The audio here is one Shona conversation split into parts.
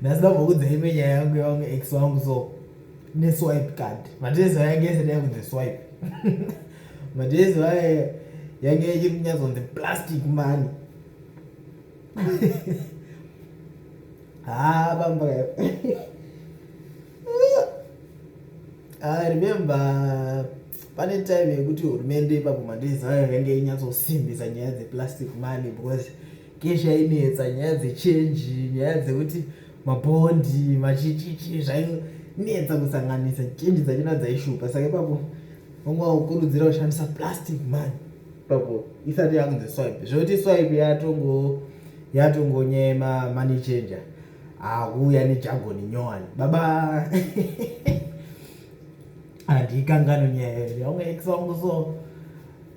ndasida kuudza ime nyaya yangu yawangu ex wangu so neswipe card matezi ayange esati yakunzi swipe matezi aye yange ichiri kunyatsonzi plastic mani ah bamba ah remember pane time yekuti hurumende ipapo mandiziva yange inyatsosimbisa nyaya dzeplastic money because kesha inetsa nyaya dzechenji nyaya dzekuti mabhondi machichichi zvainetsa kusanganisa chenji dzachona dzaishupa saka ipapo vanga vakukurudzira kushandisa plastic money ipapo isati yakunzi swipe zvoti swipe yatongo yatongonyema money changer akuuya nejagoni nyowani baba handikangano nyaya yeri vamwe ex vangu so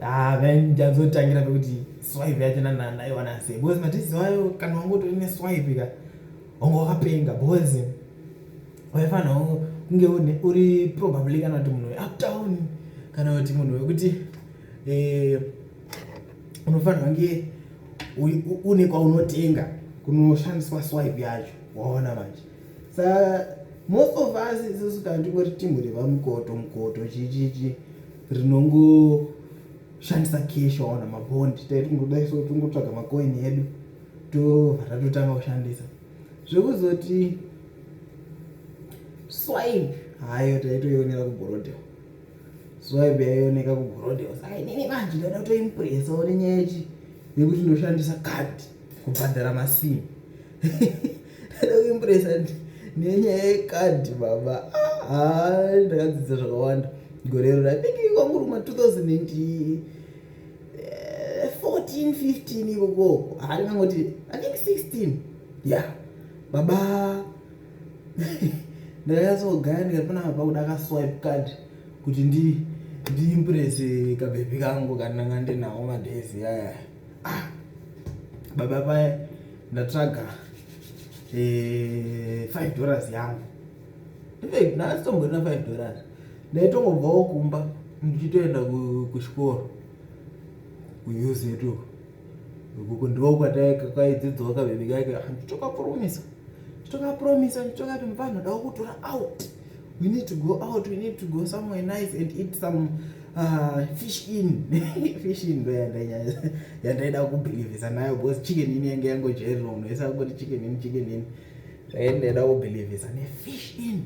ah, ndazotangira pekuti swipe yacho nanaiwana sei because matisi wayo kana wangu utori neswipe ka wangu wakapenga bozi waifanirwa kunge uri probably kana kuti munhu weuptown kana kuti munhu wekuti eh, unofanirwa kunge une kwaunotenga kunoshandiswa swipe yacho waona manje sa most of us isusu kana tingori timu revamukoto mukoto chichichi rinongoshandisa cash waona mabondi taiti kungodai so tingotsvaga macoin edu tobva tatotanga kushandisa zvekuzoti swipe hayo taitoionera kugorodeo swipe yaioneka kugorodeo saka inini manje ndoda kutoimpresa one nyaya yechi yekuti ndoshandisa card kubhadhara masimu ndoda kuimpresa nenyaya yecard baba haa ah, ndakadzidza zvakawanda gorero rapingi kwanguruma 2000 14 15 ikoko hari nangoti i think 16 ya baba ndakanyatsogaira ndikapona baba kuda kaswipe card kuti ndi ndiimprese kabhebhi kangu kandanga ndinawo madhezi yaya ah, baba paya ndatsvaga eh, 5 dollars yangu ndifake nhasi tomborina five dollars ndaitongobvawo kumba ndichitoenda kuchikoro kuuse yetu ukuku ndivo kwataikaidzidzwa kavhimi kake ah, nditokapromisa nditokapromisa nditokati mvanhu dawo kutora out we need to go out we need to go somewhere nice and eat some uh, fish in fish in ndo yandaida kubhilivhisa nayo bcause chicken ini yange yangojairira unhu ese akungoti chicken in chicken in Eh, ndinoda kubelievisa nefish in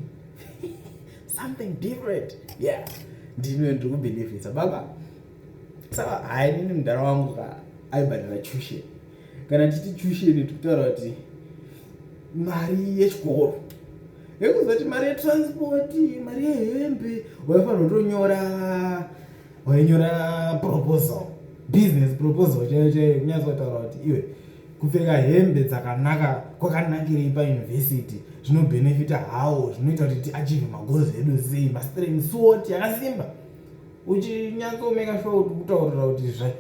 something different yeah ndino ndiri kubelievisa baba saka hayi nini mudhara wangu ka aibhadhara tuition kana titi tuition tikutaura kuti mari yechikoro yekuzoti mari yetransport mari yehembe waifanira kutonyora wainyora proposal business proposal chaiyo chaiyo kunyatsotaura kuti iwe kupfeka hembe dzakanaka kwakanakirei pauniversity zvinobhenefita hawo zvinoita kuti tiachieve magoals edu sei mastreng sot yakasimba uchinyatsomeka sure kuti kutaurira kuti zva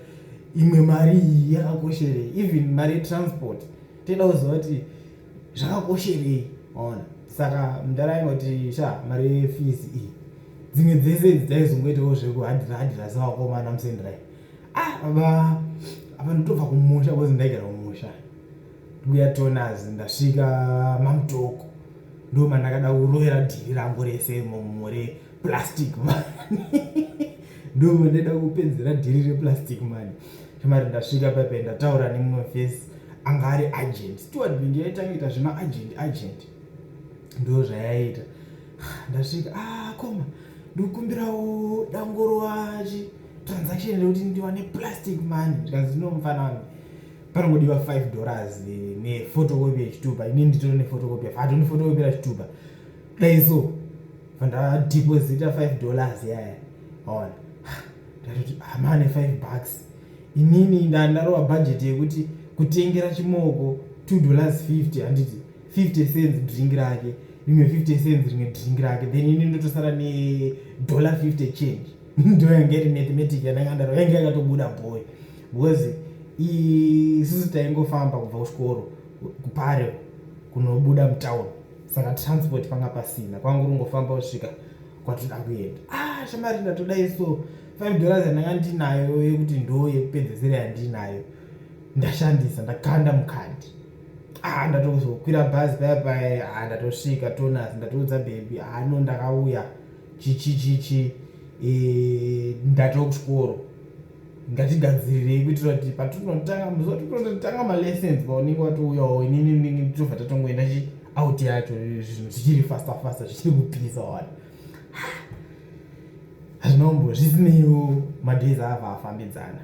imwe mari iyi yakakosherei even mari yetransport toda kuziva kuti zvakakosherei ona saka mudara ingoti sha mari yefees iyi dzimwe dzese idzi daizongoitawo zvekuhadhira hadhira sevakomana musendrai ah baba apa ndotobva kumusha bcause ndaigara kumusha mbuya tonas ndasvika mamutoko ndo mandakada kurovera dhiri rangu rese mumure plastic mani ndo mandaida kupedzera dhiri replastic mani chamari ndasvika pepe ndataura nemumwe fesi anga ari agent steward bingi yaitanga ita zvema agent agent ndo zvayaita ndasvika ah koma ndokumbirawo dangoro wachi transaction rekuti ndiwane plastic money zvikanzi no mufana wangu panongodiwa 5 dollars nefotokopi yechitupa ini nditore nefotokopi yafa hatoni fotokopi rachitupa dai so fandadeposita 5 dollars yaya ona ndatoti hamane 5 bucks inini ndandarova bhajeti yekuti kutengera chimoko 2 dollars 50 handiti 50 cents drink rake rimwe 50 cents rimwe drink rake then ini ndotosara nedollar 50 change ndo yange iri mathematic yandanga ndaro yange yakatobuda boy because isusu taingofamba kubva kuchikoro kupare kunobuda mutown saka transport panga pasina kwanga kungofamba kusvika kwatoda kuenda ah shamari ndatodai so five dollars yandanga ndinayo yekuti ndo yekupedzesera yandinayo ndashandisa ndakanda mukandi ah ndatozokwira bhazi paya paya ah ndatosvika tonas ndatoudza bhebhi ah no ndakauya chichichichi eh, ndati wekuchikoro ngatigadzirirei kuitira kuti patinotanga muzotototatanga malessons paunenge watouyawo inini ndinenge nditobva tatongoenda chi out yacho zvinhu zvichiri fasta fasta zvichiri kupisa wani hazvinombo zvisineiwo madays ava afambidzana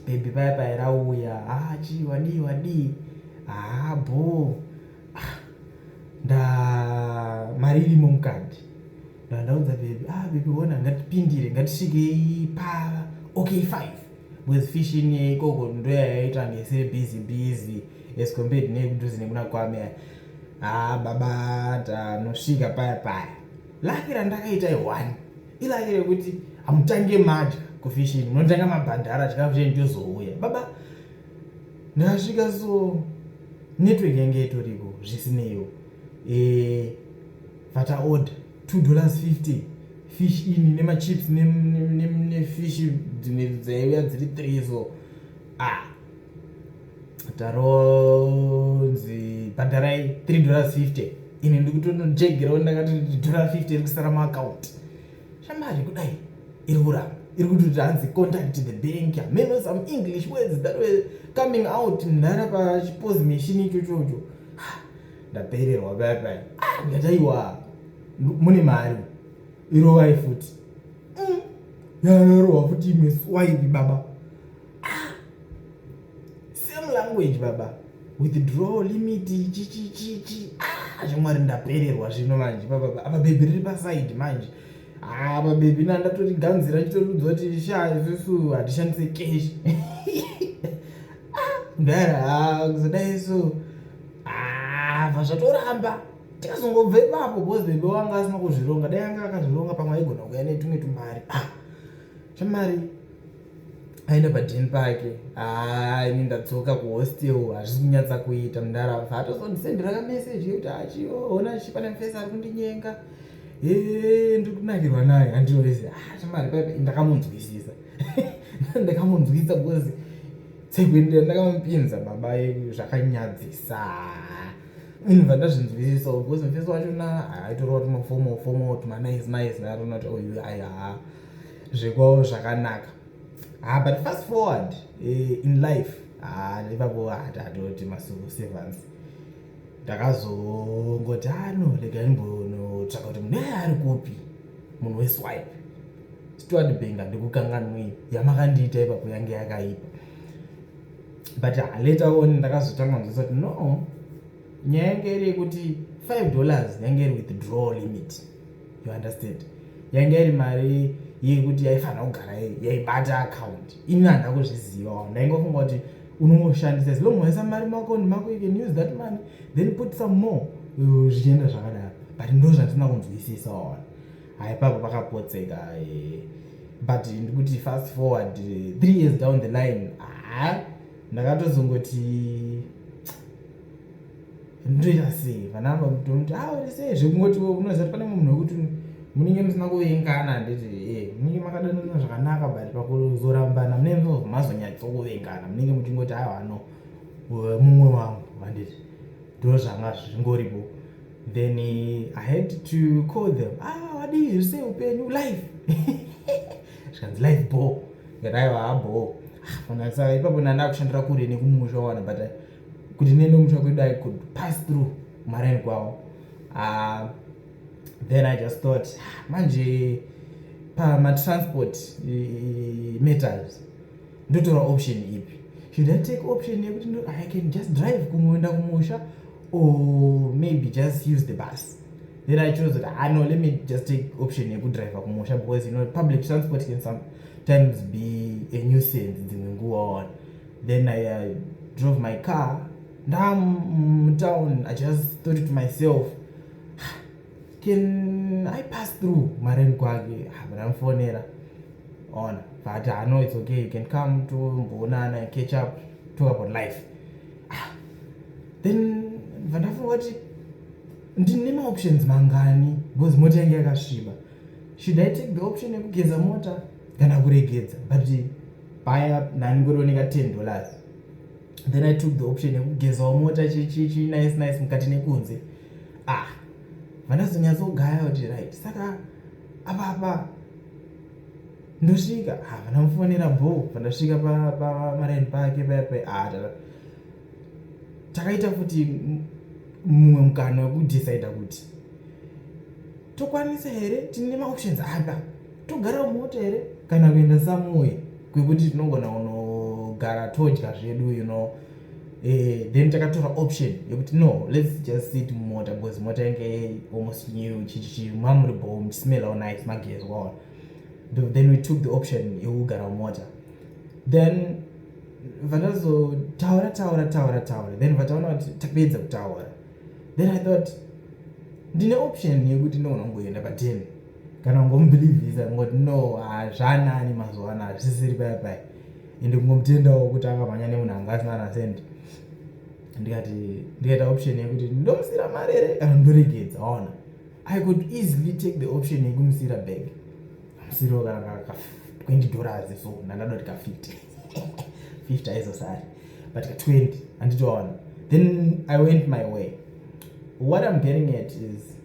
bhebhi paya paya rauya haa ah, chii wadii wadii haa ah, bhoo nda mari irimo mukati ndandaudza bebi ah bebi wona ngatipindire ngatisvikei pa okay five because fishing ikoko ndoyayaita ngesiri busy busy as compared nekudhuze nekuna kwame haa ah, baba tanosvika paya paya laki randakaita iwani ilaki rekuti hamutange madya kufishing munotanga mabhandara chikafu chenyu chozouya baba ndakasvika so network yange itoriko zvisineyo eh, vata order two dollars fifty fish ini nemachips nefish dzimwe dzaiuya dziri three so ah taronzi bhadharai three dollars fifty ini ndikutonojegerawo ndakati dollar fifty iri kusara muaccount Shamari kudai iri kuramba iri kuti hanzi contact the bank ameno some english words that were coming out mnhara pachipose machine icho chocho ndapererwa paya paya ah, ndataiwa mune mari irovai futi mm. yanarohwa futi imwe swaivi baba ah, same language baba withdrawal limit chichichichi ah, zvimwari ndapererwa zvino manje pababa apa bhebhi riri paside manje apa ah, bhebhi na ndatori ganzira nditoriudzwa kuti sha isusu hatishandise cash ah, mdara kuzodai so apa zvatoramba tikazongobva ipapo bcause bhebhi wanga asina kuzvironga dai anga akazvironga pamwe aigona kuya netumwe tumari shamari aenda padheni pake haa ini ndadzoka kuhostel hazvisi kunyatsa kuita mudara bva atozondisendera kameseji yekuti achiona ah, chipana mfesi ari kundinyenga ee ndiri kunakirwa naye handiroese ah, chamari paipa ndakamunzwisisa ndakamunzwisisa because tsekuendera ndakamupinza baba yedu zvakanyadzisa ini bva ndazvinzwisisa because mfesi wachona aitorova tumafomo fomo tumanaice naice ndaatoona kuti oyu oh, ayaa zvekwavo zvakanaka ah, but fast forward eh, in life ah, ipapo hatatoti ah, masuku sevans ndakazongoti ano ah, rega imbonotsvaka kuti munhu eye ari kupi munhu weswipe steward benga ndikukanganwei yamakandiita ipapo yange yakaipa but ah, later on ndakazotanga nzisa kuti no nyaya yange iri yekuti five dollars yange iri withdrawal limit you understand yainge iri mari yekuti yaifanira kugara yaibata akaunti ini handina kuzvizivawo ndaingofunga kuti unongoshandisa as long waisa mari mako nemako you can use that money then put some more uh, zvichienda zvakadaro but ndo zvandisina kunzwisisa ona haipapo pakapotseka eh, but ndikuti fast forward eh, three years down the line haa ndakatozongoti ndoita sei vana vangu vakutomuti a ah, uri sei zvekungoti unoziva kuti pane munhu wekuti munenge musina kuvengana handiti e eh, munenge makadanana zvakanaka but pakuzorambana munenge mazonyatsokuvengana munenge muchingoti a ah, vano mumwe wangu handiti ndo zvanga zvingoripo then i had to call them a ah, wadii zvise upenyu life zvikanzi life bo ngataiva aboo ah, fana saka ipapo ndandakushandira kure nekumusha wana but kuti nene mutsva kwedu i could pass through marine kwawo uh, then i just thought ah, manje pamatransport uh, metals ndotora option ipi should i take option yekuti i can just drive kumoenda kumusha or maybe just use the bus then i chose that ah, no let me just take option yekudriver kumusha because you know public transport can sometimes be a nuisance dzimwe nguwa ona then I, I drove my car ndamutown i just thought to myself can i pass through mareni kwake ndamufonera ona but i know it's okay you can come to mboonana catch up talk about life ah, then vandafunga kuti ndine maoptions mangani because mota yange yakasviba should i take the option yekugeza mota kana kuregedza but paya nani kurioneka 10 dollars then i took the option yekugezawo mota chichichi nice nice mukati nekunze ah vandazonyatsogaya kuti right saka apapa ndosvika ah, vandamufonera bho vandasvika pamaraini pake payape ah, takaita futi mumwe mukana wekudecida kuti tokwanisa here tine maoptions apa togara mumota here kana kuenda samuye kwekuti tinogona kunogara todya zvedu you know eh, then takatora option yekuti no lets just sit mumota because mota yange almost new chichichi mamuri bho muchismelawo nice magezi waona then we took the option yekugara mumota then vakazotaura taura taura taura then vataona kuti tapedza kutaura then i thought ndine option yekuti ndogona kungoenda paten kana kungomubhilivhisa kungoti no hazvanani mazuva ano hazvisisiri paya paya ende kungomutendawo kuti akamhanya nemunhu anga asina ana cent ndikati ndikaita option yekuti ndomusira mari here kana ndoregedza waona i could easily take the option yekumusira bag amusiriwo kana ka 20 dollars so ndandadoti ka 50 50 aizosari but ka 20 anditoona then i went my way what i'm getting at is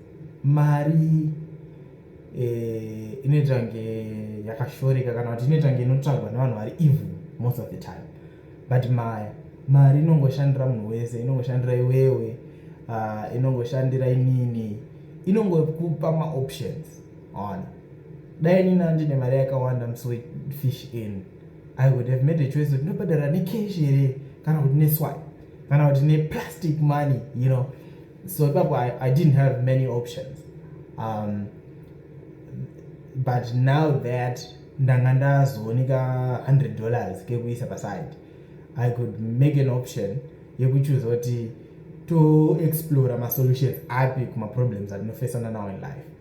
mari eh, inoita kunge yakashoreka kana kuti inoita kunge inotsvagwa nevanhu vari evil most of the time but maya mari inongoshandira munhu wese inongoshandira iwewe ah, inongoshandira inini inongokupa maoptions ona dai nina ndine mari yakawanda msofish in i would have made a choice kuti ndobhadhara necash here kana kuti neswy kana kuti neplastic money you know so ipapo I, i didn't have many options um, but now that ndanga ndazooneka 100 dollars kekuisa paside i could make an option yekuchuza kuti toexplora masolutions api kumaproblems atinofesana now in life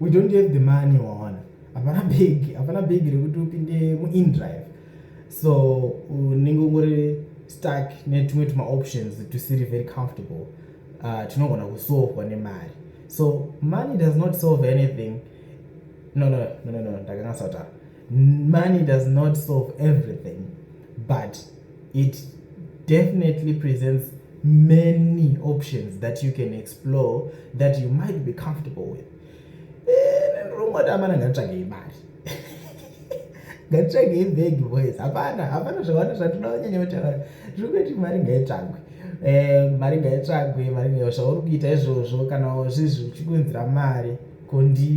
we don't have the money waona hapana bhegi hapana bhegi rekuti upinde muindrive so unenge ungori stuck netumwe tumaoptions tusiri very comfortable uh, tinogona kusolvwa nemari so money does not solve anything no no no no no ndakanga sataura Money does not solve everything but it definitely presents many options that you can explore that you might be comfortable with ringoda amana nganditsvagei mari nganditsvagei bhegi boys hapana hapana zvawanda zvatinoda vanyanya kutaura zviri kuiti mari ngaitsvagwe eh, mari ngaitsvagwe mari ngayo zvauri kuita izvozvo kana zvizvi uchikunzira mari kondi